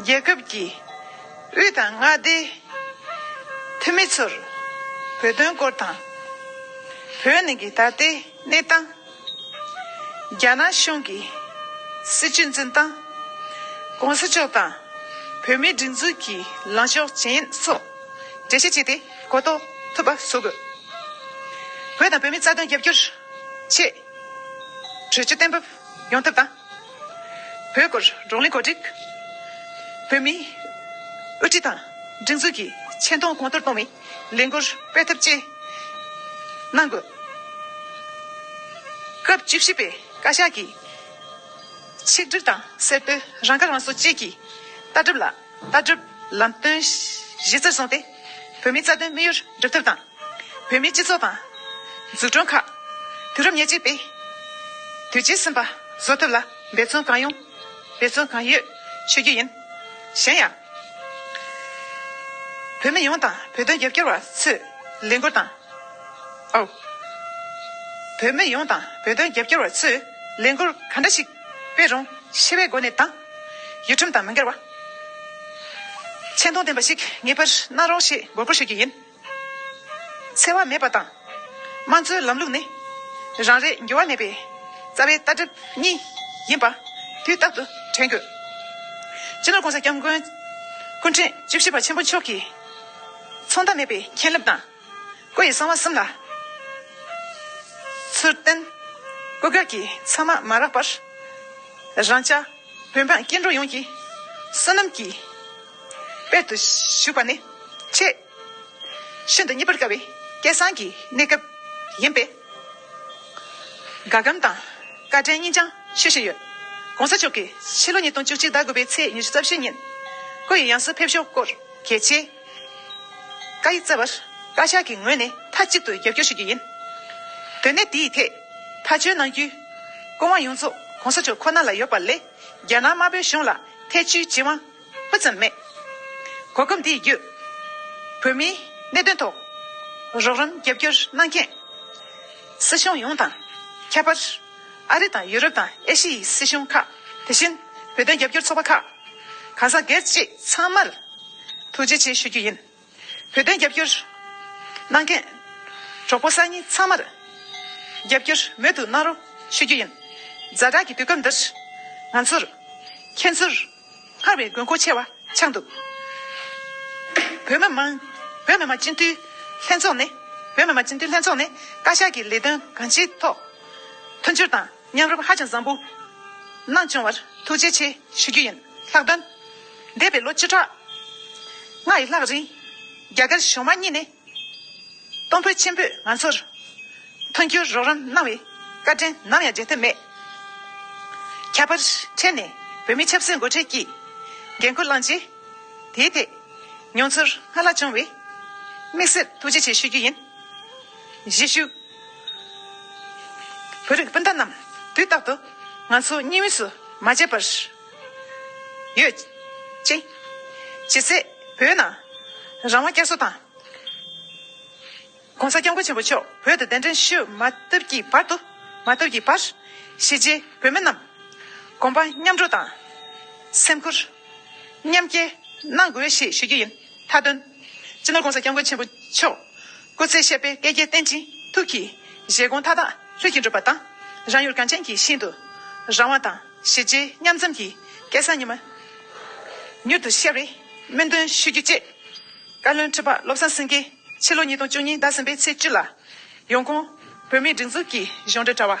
རྒྱལ་ཁབ་ཀྱི་དབུས་དང་མངའ་སྡེའི་འཐུས་མི་ཚོར་བོད་དོན་སྐོར་དང། བོད་ནང་གི་ད་ལྟའི་གནས་སྟངས། རྒྱ་ནག་གཞུང་གི་སྲིད་བྱུས་འཛིན་སྟངས། གོང་ས་མཆོག་དང་བོད་མིའི་སྒྲིག་འཛུགས་ཀྱི་ལངས་ཕྱོགས་གཞན་སོགས་འགྲེལ་བཤད་བྱས་ཏེ་གོ་རྟོགས་ཐུབ་པ་བཟོ་དགོས། བོད་དང་བོད་མིའི་རྩ་དོན་རྒྱབ་སྐྱོར་ཆེད་གྲོས་ཆོད་གཏན་འབེབས་ཡོང་ཐབས་དང། བོད་སྐོར་རོང་ལི་གོ་སྒྲིག། བོད་མིའི་དབུ་ཁྲིད་དང་སྒྲིག་འཛུགས་ཀྱི་ཆེ་མཐོང་གོང་མཐོར་གཏོང་བའི་ལས་འགུལ་སྤེལ་ཐབས་བཅས་གནང་དགོས། སྐབས་བཅུ་བཞི་པའི་བཀའ་ཤག་གིས་ཆིག་སྒྲིལ་དང་གསལ་སྟོན་རང་ཁ་རང་གསོ་བཅས་ཀྱི་ལྟ་གྲུབ་ལ། ལྟ་གྲུབ། ལམ་སྟོན། གཞི་རྩར་བཟུང་སྟེ། བོད་མིའི་རྩ་དོན་དམིགས་ཡུལ་སྒྲུབ་ཐབས་དང། བོད་མིའི་སྤྱི་ཚོགས་དང། འཛུགས་སྐྲུན་ཁག། དུས་རབས་ཉེར་གཅིག་པའི། དུས་ཆེན་གསུམ་པ། བཟོ་ཐུབ་ལ། འབད་བརྩོན་གང་ཡོང། འབད་བརྩོན་གང་ཡོད། བྱེད་རྒྱུ་ཡིན། གཞན་ཡང། བོད་མི་ཡོངས་དང་བོད་དོན་རྒྱབ་སྐྱོར་བ་ཚོས་ལས་འགུལ་དང། ཨོ། བོད་མི་ཡོངས་དང་བོད་དོན་རྒྱབ་སྐྱོར་བ་ཚོས་ལས་འགུལ་ག་འདྲ་ཞིག་སྤེལ་རུང་ཤེས་པའི་སྒོ་ནས་དང། ཡུལ་ཁྲིམས་དང་མི་འགལ་བ། ཆེ་མཐོང་ལྡན་པ་ཞིག་ངེས་པར་གནང་རོགས་ཞེས་དགོས་མཁོ་ཤོད་རྒྱུ་ཡིན། འཚེ་བ་མེད་པ་དང། དམངས་གཙོའི་ལམ་ལུགས་ནི། རང་རེའི་འགྱུར་བ་མེད་པའི་རྩ་བའི་ལྟ་གྲུབ་གཉིས་ཡིན་པ་དུས་རྟག་ཏུ་དྲན་དགོས། སྤྱི་ནོར ྋགོང་ས ྋསྐྱབས་མགོན་སྐུ་ཕྲེང་བཅུ་བཞི་པ་ཆེན་པོ་མཆོག་གིས། མཚུངས་ཟླ་མེད་པའི་མཁྱེན་རླབས་དང། སྐུ་ཡི་གསང་བ་གསུམ་ལ་ཚུལ་བསྟན། སྐུ་དགར་གྱི་མཚམས་མ་མ་རག་པར། རང་ཅག་བོད་འབངས་སྐྱེ་འགྲོ་ཡོངས་ཀྱི། བསོད་ནམས་ཀྱི་དཔལ་དུ་བཞུགས་པ་ནི། ཆེས་ཤིན་ཏུ་མཉེས་པར་དཀའ་བའི་སྐལ་བཟང་གི་གནས་སྐབས་ཡིན་པས། དགའ་སྐམ་དང་བཀའ་དྲིན་སྙིང་བཅངས་ཤེས་བཞིན་ཡོད། གོང་ས་མཆོག་གིས་ཕྱི་ལོ་ཉིས་སྟོང་བཅུ་གཅིག་ཟླ་དགུ་པའི་ཚེས་ཉེར་བཅུ་རྩ་བཞི་ཉིན། སྐུ་ཡི་ཡང་སྲིད་ཕེབས་ཞོར་སྐོར་གལ་ཆེ། བཀའ་ཡིས་བསྩལ་བར། བཀའ་ཤག་གི་ངོས་ནས་མཐའ་གཅིག་ཏུ་རྒྱབ་སྐྱོར་ཞུ་རྒྱུ་ཡིན། དོན་གནད་དེའི་ཐད་མཐའ་འཁྱོལ་གནང་རྒྱུའི། སྐུ་དབང་ཡོངས་རྫོགས་གོང་ས་མཆོག་ཁོ་ན་ལ་ཡོད་པ་ལས་རྒྱ་ནག་དམར་པོའི་གཞུང་ལ་ཐེ་བྱུས་བགྱི་དབང་སྤུ་ཙམ་མེད། གོ་སྐབས་འདི་བརྒྱུད། བོད་མིའི་གནད་དོན་ཐོག་རོགས་རམ་རྒྱབ་སྐྱོར་གནང་མཁན། སྲིད་གཞུང་ཡོངས་དང། ཁྱད་པར། ཨ་རི་དང་ཡུ་རོབ་དང་ཨེ་ཤི་ཡི་སྲིད་གཞུང་ཁག་དེ་བཞིན་བོད་དོན་རྒྱབ་སྐྱོར་ཚོགས་པ་ཁག། གང་ཟག་སྒེར་གཅེས་ཚང་མར་ཐུགས་རྗེ་ཆེ་ཞུ་རྒྱུ་ཡིན། བོད་དོན་རྒྱབ་སྐྱོར་གནང་མཁན་གྲོགས་པོ་སང་ཉིན་ཚང་མར་རྒྱབ་སྐྱོར་མོད་དུ་གནང་རོགས་ཞུ་རྒྱུ་ཡིན། རྫ་དྲག་གི་དུས་སྐབས་འདིར་ང་ཚོར་ཁྱེད་ཚོར་སྔར་བས་དགོས་མཁོ་ཆེ་བ་ཆགས་འདུག་བོད་མི་མང་བོད་མི་མང་སྤྱི་འཐུས་ལྷན་ཚོགས་ནས་བོད་མི་མང་སྤྱི་འཐུས་ལྷན་ཚོགས་ནས་བཀའ་ཤག་གི་ལས་དོན་གང་ཅིའི་ཐོག་མཐུན་འགྱུར་དང། སྙན་རབས་ཧ་ཅང་བཟང་པོ། གནང་སྐྱོང་བར་ཐུགས་རྗེ་ཆེ་ཞུ་རྒྱུ་ཡིན་ལྷག་དོན། འདས་པའི་ལོ་བཅུ་ཕྲག་ལྔ་ཡི་ལྷག་རིང། རྒྱ་གར་གཞུང་མང་གཉིས་ནས། གཏོང་ཕོད་ཆེན་པོས་ང་ཚོར། མཐུན་འགྱུར་རོགས་རམ་གནང་བའི། བཀའ་དྲིན་ནམ་ཡང་བརྗེད་ཐབས་མེད། ཁྱད་པར་འཕྲལ་ནས་བོད་མི་ཆབ་སྲིད་མགོ་ཁྲིད་ཀྱིས། འགན་ཁུར་བླངས་རྗེས། དེའི་ཐད། མྱོང་ཚོར་སྔར་ལྷག་བྱུང་བས། དམིགས་བསལ་ཐུགས་རྗེ་ཆེ་ཞུ་རྒྱུ་ཡིན། གཞིས་བཞུགས། བོད་རིགས་སྤུན་ཟླ་རྣམས་དུས་རྟག་ཏུ་ང་ཚོ་གཉིས་མུས་སུ་མ་བརྗེད་པར། ཡོད། ཅེས། བྱེད་ཚེ་བོད་ནང་རང་དབང་བསྐྱར་གསོ་དང། ྋགོང་ས ྋསྐྱབས་མགོན་ཆེན་པོ་མཆོག་བོད་དུ་གདན་འདྲེན་ཞུ་མ་ཐུབ་ཀྱི་བར་དུ། མ་ཐུབ་ཀྱི་བར། ཞི་རྗེ་བོད་མི་རྣམས་གོམ་པ་མཉམ་སྒྲོག་དང། སེམས་ཁུར་མཉམ་སྐྱེད་གནང་དགོས་ཞེས་ཞུ་རྒྱུ་ཡིན། མཐའ་དོན། སྤྱི་ནོར ྋགོང་ས ྋསྐྱབས་མགོན་ཆེན་པོ་མཆོག། སྐུ་ཚེ་ཤེས་དཔལ་བསྐལ་བརྒྱའི་བསྟན་ཅིང་ཐུགས་ཀྱི། བཞེད་དགོངས་མཐའ་དག་ལྷུན་གྱིས་འགྲུབ་པ་དང། རང་ཡུལ་གངས་ཅན་གྱི་ཞིང་དུ། རང་དབང་དང་གཞི་བྱེས་མཉམ་འཛོམས་ཀྱི། སྐལ་བཟང་ཉི་མ་མྱུར་དུ་ཤར་བའི། སྨོན་འདུན་ཞུ་རྒྱུ་བཅས། བཀའ་བློན་ཁྲི་པ་བློ་བཟང་སེང་གེས་ཕྱི་ལོ་ཉིས་སྟོང་བཅུ་གཉིས་ཟླ་གསུམ་པའི་ཚེས་བཅུ་ལ། ཡོང་ཁུངས། བོད་མིའི་སྒྲིག་འཛུགས་ཀྱི་གཞུང་འབྲེལ་དྲ་བ།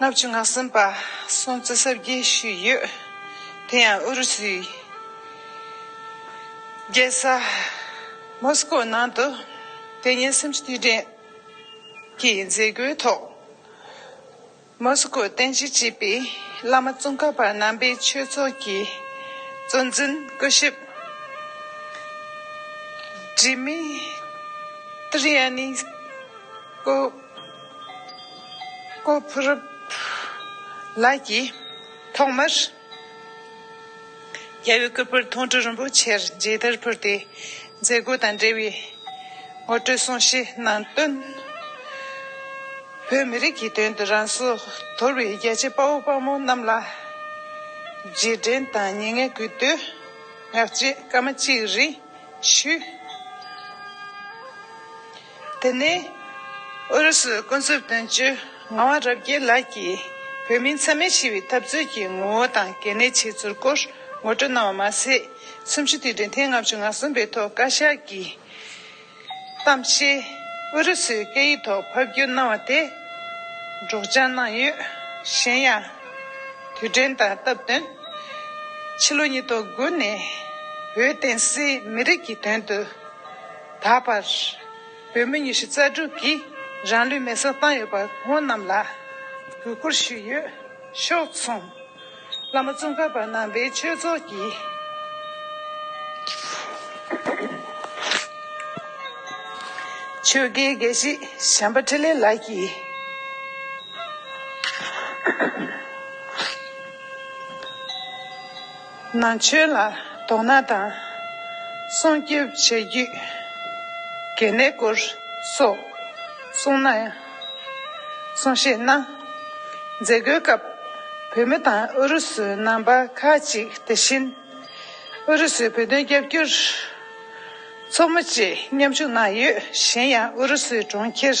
ལྔ་བཅུ་ང་གསུམ་པ་སྲུང་བརྩི་གསར་བརྗེ་ཞུས་ཡོད། དེ་ཡང་ཨུ་རུ་སུའི་རྒྱལ་ས་མོ་སི་ཀོ་ནང་དུ་དེ་ཉིན་སེམས་སྐྱིད་བསྟན་གྱི་མཛད་སྒོའི་ཐོག་མོ་སི་ཀོའི་རྟེན་གཞི་བྱས་པའི་བླ་མ་ཙོང་ཁ་པ་རྣམ་པའི་ཆོས་ཚོགས་ཀྱི་གཙོ་འཛིན་སྐུ་ཞབས Dmitry Tvryanikov ཀོ་ཕུ་རུབ་ལགས་ཀྱིས་ཐོག་མར་རྒྱལ་བའི་སྐུ་པར་ཐུང་གྲུ་རིན་པོ་ཆེར་མཇལ་དར་ཕུལ་ཏེ་མཛད་སྒོ་དང་འབྲེལ་བའི་ངོ་སྤྲོད་གསུང་བཤད་གནང་དོན། བོད་མི་རིགས་ཀྱི་དོན་དུ་རང་སྲོག་དོར་བའི་རྒྱལ་གཅེས་དཔའ་བོ་དཔའ་མོ་རྣམས་ལ་རྗེས་དྲན་དང་ཉེ་བསྔལ་གུས་བཏུད་ངག་བཅད་སྐར་མ་གཅིག་རེ་ཞུས། དེ་ནས་ཨུ་རུ་སུའི་ཀུན་རྫོབ་དོན་གཅོད་ངག་དབང་རབ་རྒྱས་ལགས་ཀྱིས་བོད་མིའི་འཚེ་མེད་ཞི་བའི་འཐབ་རྩོད་ཀྱི་ངོ་བོ་དང་གལ་གནད་ཆེ་ཚུལ་སྐོར་ངོ་སྤྲོད་གནང་བ་མ་ཟད་གསུམ་བཅུ་དུས་དྲན་ཐེངས་ལྔ་བཅུ་ང་གསུམ་པའི་ཐོག་བཀའ་ཤག་གི་གཏམ་བཤད་ཨུ་རུ་སུའི་སྐད་ཡིག་ཐོག་ཕབ་བསྒྱུར་གནང་བ་དེ་སྒྲོག་སྦྱང་གནང་ཡོད། གཞན་ཡང། དུས་དྲན་དང་སྟབས་བསྟུན་ཕྱི་ལོ་ཉིས་སྟོང་དགུ་ནས་བོད་བསྟན་སྲིད་མི་རིགས་ཀྱི་དོན་དུ། ད་བར་བོད་མི་ཉི་ཤུ་རྩ་དྲུག་གིས་རང་ལུས་མེར་སྲེག་བཏང་ཡོད་པར་སྔོན་རྣམས་ལ་གུས་བཀུར་ཞུས་ཡོད། ཕྱོགས་མཚུངས། བླ་མ་བཙུན་མཁར་པ་ནང་པའི་ཆོས་ཚོགས་ཀྱི། ཆོས་དགེའི་དགེ་བཤེས་བྱམས་པ་འཕྲིན་ལས་ལགས་ཀྱིས། ནང་ཆོས་ལ་དོ་སྣང་དང། སྲུང་སྐྱོབ་བྱེད་རྒྱུའི་གལ་གནད་སྐོར་སོགས་གསུངས་གནང། གསུང་བཤད་གནང། མཛད་སྒོའི་སྐབས་བོད་མི་དང་ཨུ་རུ་སུའི་རྣམ་པ་ཁག་ཅིག་དེ་བཞིན་ཨུ་རུ་སུའི་བོད་དོན་རྒྱབ་སྐྱོར་ཚོགས་མི་བཅས་མཉམ་ཞུགས་གནང་ཡོད། གཞན་ཡང་ཨུ་རུ་སུའི་གྲོང་ཁྱེར།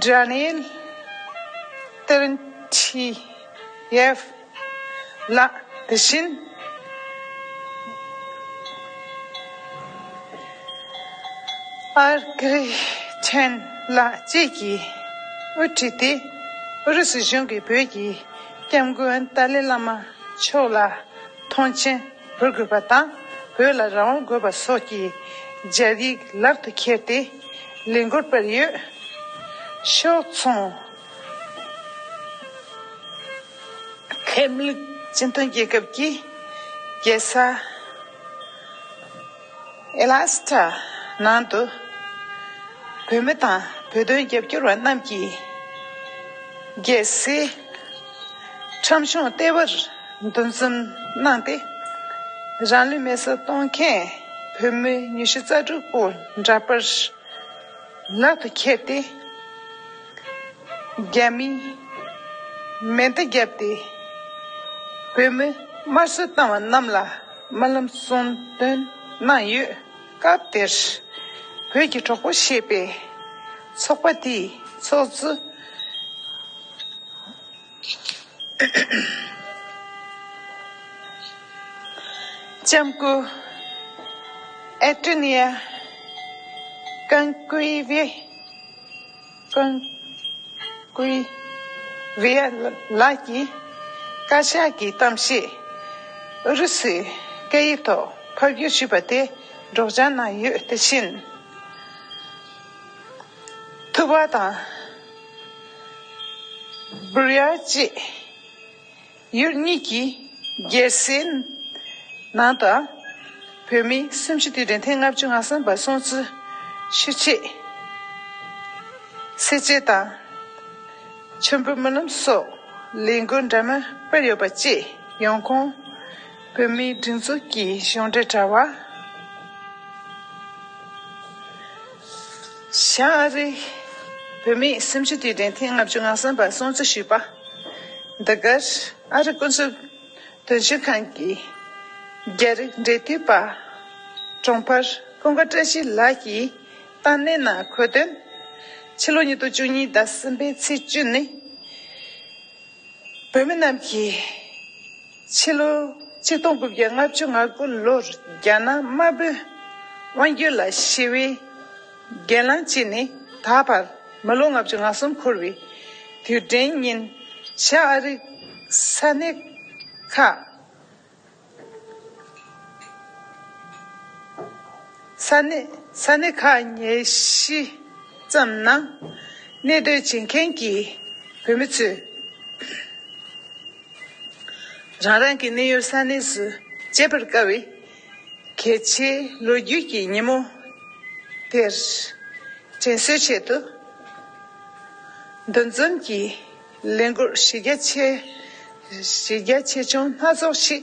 སྒྲ་བླན་བསྟར་མཆིས། ཡབ་ལ་དེ་བཞིན། ཨར་ཀི་ཆན་ལགས་བཅས་ཀྱིས་དབུ་ཁྲིད་དེ་ཨུ་རུ་སུ་གཞུང་གིས་བོད་ཀྱི་སྐྱབས་མགོན་ཏཱ་ལའི་བླ་མ་མཆོག་ལ་མཐོང་ཆེན་བོད་དགོས་པ་དང་བོད་ལ་རང་དབང་དགོས་པ་སོགས་ཀྱི་སྦྱར་ཡིག་ལག་ཏུ་ཁྱེར་ཏེ་ལས་འགུལ་སྤེལ་ཡོད། ཕྱོགས་མཚུངས། ལྷད་མེད་སྤྱི་མཐུན་རྒྱལ་ཁབ་ཀྱི་རྒྱལ་ས། ཨེ་ལ་སི་ཐྲ། ནང་དུ། བོད་མི་དང་བོད་དོན་རྒྱབ་སྐྱོར་བ་རྣམས་ཀྱིས། རྒྱལ་སའི། ཁྲོམ་གཞུང་ལྟེ་བར་འདུ་འཛོམས་གནང་སྟེ། རང་ལུས་མེ་སྲེག་གཏོང་མཁན་བོད་མི་ཉི་ཤུ་རྩ་དྲུག་པོ་འདྲ་པར་ལག་ཏུ་ཁྱེར་ཏེ། རྒྱ་མིས་མེ་མདའ་བརྒྱབ་སྟེ་བོད་མི་དམར་གསོད་བཏང་བ་རྣམས་ལ་རྨི་ལམ་གསུང་འདོན་གནང་ཡོད། སྐབས་དེར་བོད་ཀྱི་གྲོགས་པོ་ཞེས་པའི་ཚོགས་པ་དེའི་ཚོགས་གཙོ་ལྕམ་སྐུ་ཨེ་ཀྲི་ནི་ཡ་ཀན་ཀུའེ་ཝེ། ཁོང་སྐུའི་བྷི་ཡ་ལ་གྱི་བཀའ་ཤག་གི་གཏམ་བཤད་ཨུ་རུ་སུའི་སྐད་ཡིག་ཐོག་ཕབ་བསྒྱུར་ཞུས་པ་དེ་སྒྲོག་སྦྱང་གནང་ཡོད་དེ་བཞིན། ཐུ་བྷ་དང་བྷུར་ཡ་བཅས་ཡུལ་གཉིས་ཀྱི་རྒྱལ་སའི་ནང་དང། བོད་མི་སུམ་ཅུ་སྟེ་རིན་ཐང་ལྔ་བཅུ་ང་གསུམ་པ་སྲུང་བརྩི་ཞུ་ཆེད། སེར་བྱེས་དང། མཆོད་འབུལ་སྨོན་ལམ་སོགས་ལས་འགུལ་འདྲ་མིན་སྤེལ་ཡོད་པ་བཅས་ཡོང་ཁུངས། བོད་མིའི་སྒྲིག་འཛུགས་ཀྱི་གཞུང་འབྲེལ་དྲ་བ། ཤཱ་རིའི་བུ། མི་སེམས་ཅན་དུས་དྲན་ཐེངས་ལྔ་བཅུ་ང་གསུམ་པ་སྲུང་བརྩི་ཞུས་པ། འདི་གར་ཨ་རི་སྐུ་འཚོ་དོན་གཅོད་ཁང་གི་རྒྱ་རིགས་འབྲེལ་མཐུད་པ། གྲོང་འཕར་ཀུན་དགའ་བཀྲ་ཤིས་ལགས་ཀྱིས་བཏང་གནས་ནང་འཁོད་དོན། ཕྱི་ལོ་ཉིས་སྟོང་བཅུ་གཉིས་ཟླ་གསུམ་པའི་ཚེས་བཅུ་ནི། བོད་མི་རྣམས་ཀྱིས། ཕྱི་ལོ་གཅིག་སྟོང་དགུ་བརྒྱ་ལྔ་བཅུ་ང་དགུ་ལོར་རྒྱ་ནག་དམར་པོའི་དབང་སྒྱུར་ལ་ཞི་བའི་སྒེར་ལངས་བྱས་ནས་ད་བར་མི་ལོ་ལྔ་བཅུ་ང་གསུམ་འཁོར་བའི་དུས་དྲན་ཉིན་ཞཱ་ཨ་རིག་ས་གནས་ཁག་ས་གནས་ས་གནས་ཁག་ཉེར་བཞི་ཙམ་ནང་གནས་སྡོད་བྱེད་མཁན་གྱི་བོད་མི་ཚོས་རང་རང་གི་གནས་ཡུལ་ས་གནས་སུ་བརྗེད་པར་དཀའ་བའི་གལ་ཆེའི་ལོ་རྒྱུས་ཀྱི་ཉིན་མོ་དེར་དྲན་གསོའི་ཆེད་དུ་འདུ་འཛོམས་ཀྱི་ལས་འགུལ་གཞི་རྒྱ་ཆེ་ཆུང་སྣ་ཚོགས་ཤིག་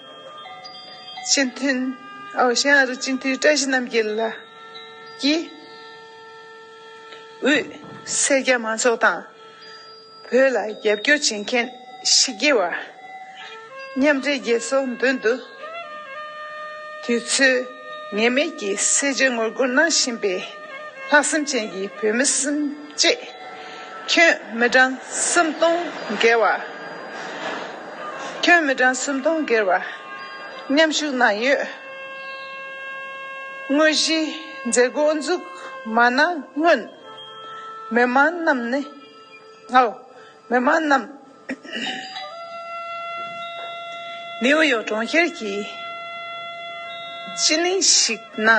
སྤྱི་མཐུན། ཤིང་ཨ་རིག་སྤྱི་མཐུན་བཀྲ་ཤིས་རྣམ་རྒྱལ་ལགས་ཀྱིས། དབུས་སེར་སྐྱ་མང་ཚོགས་དང། བོད་ལ་རྒྱབ་སྐྱོར་བྱེད་མཁན་ཕྱི་རྒྱལ་བ། མཉམ་འབྲེལ་རྒྱལ་ཚོགས་མདུན་དུ། དུས་ཚོད་ངེས་མེད་ཀྱི་གསལ་བརྗོད་ངོ་རྒོལ་གནང་བཞིན་པའི། ལྷག་བསམ་ཅན་གྱི་བོད་མི་སེམས་བསྐྱེད། ཁྱོད་མི་གྲངས་སུམ་སྟོང་བརྒལ་བ། ཁྱོད་མི་གྲངས་སུམ་སྟོང་བརྒལ་བ། མཉམ་ཞུགས་གནང་ཡོད། དངོས་གཞིའི་མཛད་སྒོ་འཛུགས་མ་གནང་སྔོན། མི་མང་རྣམས། ནེའུ་ཡོག་གྲོང་ཁྱེར་གྱི་སྤྱི་གླིང་ཞིག་ན་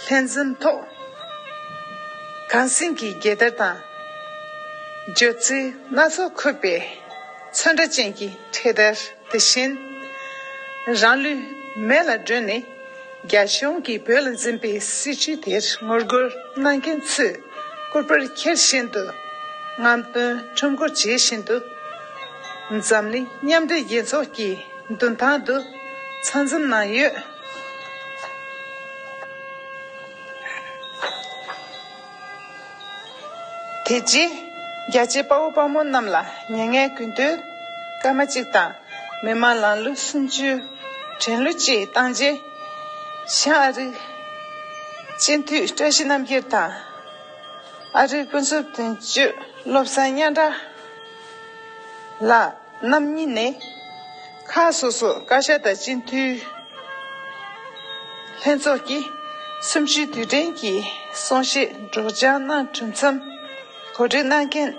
ལྷན་འཛོམས་ཐོག་གངས་སེང་གི་རྒྱལ་དར་དང་བརྗོད་ཚིག་སྣ་ཚོགས་འཁོད་པའི་ཚོན་ཁྲ་ཅན་གྱི་འཕྲེད་དར་དེ་བཞིན་རང་ལུས་མེ་ལ་སྒྲོན་ནས་རྒྱ་གཞུང་གིས་བོད་ལ་འཛིན་པའི་སྲིད་བྱུས་དེར་ངོ་རྒོལ་གནང་མཁན་ཚོས། བསྐུར་པར་འཁྱེར་བཞིན་དུ། རྔམ་སྟོན་ཁྲོམ་སྐོར་བྱེད་བཞིན་དུ། འཛམ་གླིང་མཉམ་འབྲེལ་རྒྱལ་ཚོགས་ཀྱི་མདུན་ཐང་དུ་ཚང་འཛོམས་གནང་ཡོད། དེ་རྗེས་རྒྱ་ཆེའི་དཔའ་བོ་དཔའ་མོ་རྣམས་ལ་ཉེ་བསྔལ་གུས་འདུད་སྐར་མ་གཅིག་དང་མི་མང་ལང་གླུ་སུམ་ཅུའི་དྲན་གླུ་བཅས་བཏང་རྗེས། ཤང་ཨ་རིག། སྤྱི་འཐུས་བཀྲ་ཤིས་རྣམ་རྒྱལ་དང། ཨ་རིའི་དཔོན་ཚོགས་དོན་གཅོད་བློ་བཟང་སྙན་གྲགས་ལགས་རྣམ་གཉིས་ནས། ཁག་སོ་སོར་བཀའ་ཤག་དང་སྤྱི་འཐུས་ལྷན་ཚོགས་ཀྱིས་གསུམ་བཅུའི་དུས་དྲན་གྱི་གསུང་བཤད་སྒྲོག་སྦྱང་གནང་གྲུབ་མཚམས། གོ་སྒྲིག་གནང་མཁན་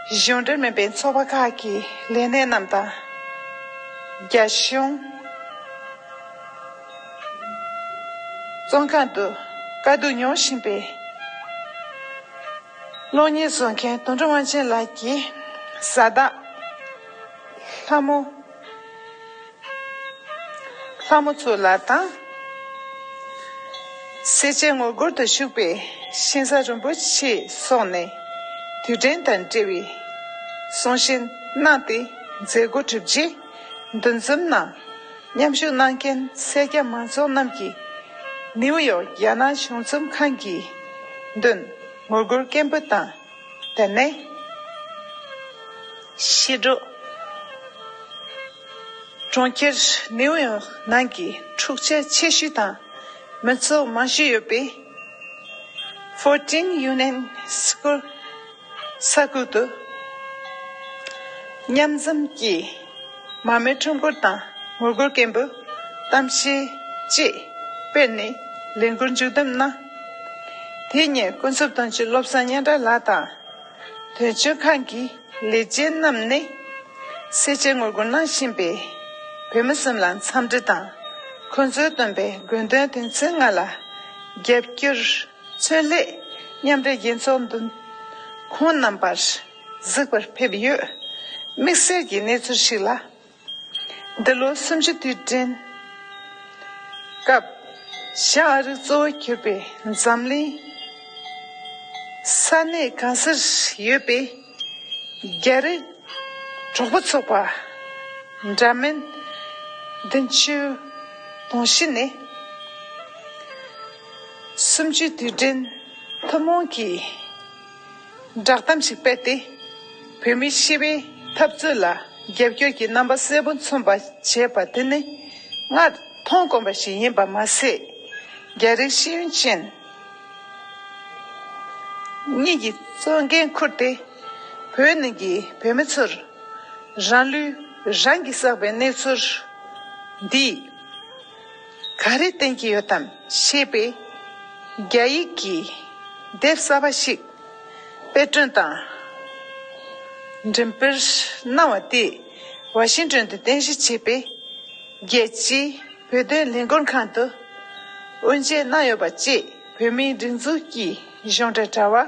གཞུང་འབྲེལ་མིན་པའི་ཚོགས་པ་ཁག་གི་ལས་སྣེ་རྣམས་དང། རྒྱ་གཞུང་བཙོན་ཁང་དུ་དཀའ་སྡུག་མྱོང་བཞིན་པའི་གློག་བརྙན་བཟོ་མཁན་དོན་འགྲུབ་དབང་ཆེན་ལགས་ཀྱིས་བཟའ་ཟླ་ལྷ་མོ། ལྷ་མོ་ཚུར་ལ་དང། སེར་བྱེས་ངོ་རྒོལ་དུ་བཞུགས་པའི། ཤིང་བཟའ་རིན་པོ་ཆེའི་སོགས་ནས། དུས་དྲན་དང་འབྲེལ་བའི། གསུང་བཤད་གནང་སྟེ་མཛད་སྒོ་གྲུབ་རྗེས། འདུ་འཛོམས་ནང་མཉམ་ཞུགས་གནང་མཁན་སེར་སྐྱ་མང་ཚོགས་རྣམས་ཀྱིས། ནིའུ་ཡོག་རྒྱ་ནག་གཞུང་ཚོམས་ཁང་གི་མདུན། ངོ་རྒོལ་སྐད་འབོད་དང་བསྡད་ནས། ཤེལ་སྒྲོག། གྲོང་ཁྱེར་ནེའུ་ཡོག་ནང་གི་འཁྲུག་ཆ་ཆེ་ཤོས་དང་མི་ཚོགས་མང་ཤོས་ཡོད་པའི། Fourteen Union Square། ས་ཁུལ་དུ། མཉམ་འཛོམས་ཀྱིས་མ་རྨོས་ཁྲོམ་སྐོར་དང་ངོ་རྒོལ་སྐད་འབོད་གཏམ་བཤད་བཅས་སྤེལ་ནས་ལས་འགུལ་མཇུག་བསྡོམས་གནང། དེ་ཉིན་ཀུན་རྫོབ་དོན་གཅོད་བློ་བཟང་སྙན་གྲགས་ལགས་དང། དོན་གཅོད་ཁང་གི། ལས་ཅན་རྣམས་ནི། སེར་བྱེས་ངོ་རྒོལ་གནང་བཞིན་པའི། བོད་མི་སེམས་ལ་འཚམས་འདྲི་དང། ཁོང་ཚོའི་བཏོན་པའི་དགོས་འདུན་དོན་ཚན་ལྔ་ལ། རྒྱབ་སྐྱོར། མཚོན་སླད། མཉམ་འབྲེལ་རྒྱལ་ཚོགས་འདུ། ཁོང་རྣམས་པར། གཟིགས་པར་ཕེབས་ཡོད། དམིགས་བསལ་གྱི་གནས་ཚུལ་ཞིག་ལ། འདི་ལོ་སུམ་ཅུ་དུས་དྲན་སྐབས། བྱ་ཨ་རིག་གཙོ་བོ་གྱུར་པའི་འཛམ་གླིང། ས་གནས་གང་སར་ཡོད་པའི་རྒྱ་རིགས་གྲོགས་པོ་ཚོགས་པ་འདྲ་མིན། འདི་མཆོད་དུང་གཞི་ནས། སུམ་ཅུའི་དུས་དྲན་ཐུན་མོང་གི། བསྒྲགས་གཏམ་ཞིག་སྤེལ་ཏེ། བོད་མིའི་སྤྱི་པའི་འཐབ་རྩོད་ལ་རྒྱབ་སྐྱོར་གྱི་རྣམ་པ་གསལ་པོ་མཚོན་པ་བྱས་པ་དེ་ནི་ང་མཐོང་དཀོན་པ་ཞིག་ཡིན་པ་མ་ཟད། རྒྱ་རིགས་ཤེས་ཡོན་ཅན་གཉིས་ཀྱིས་གཙོ་འགན་ཁུར་ཏེ། བོད་ནང་གི་བོད་མི་ཚོར་རང་ལུས་རང་གིས་བསགས་པའི་གནས་ཚུལ་འདིས། ག་རེ་བསྟན་གྱི་ཡོད་དམ་ཞེས་པས། རྒྱ་ཡིག་གིས་དེབ་གསར་པ་ཞིག་དཔེ་སྐྲུན་དང། འགྲེམས་སྤེལ་གནང་བ་དེས་ཝ་ཤིང་ཏོན་དུ་རྟེན་གཞི་བྱས་པའི་རྒྱལ་སྤྱིའི་བོད་དོན་ལས་འགུལ་ཁང་དུ་དབུ་འབྱེད་གནང་ཡོད་པ་བཅས་བོད་མིའི་སྒྲིག་འཛུགས་ཀྱི་གཞུང་འབྲེལ་དྲ་བ།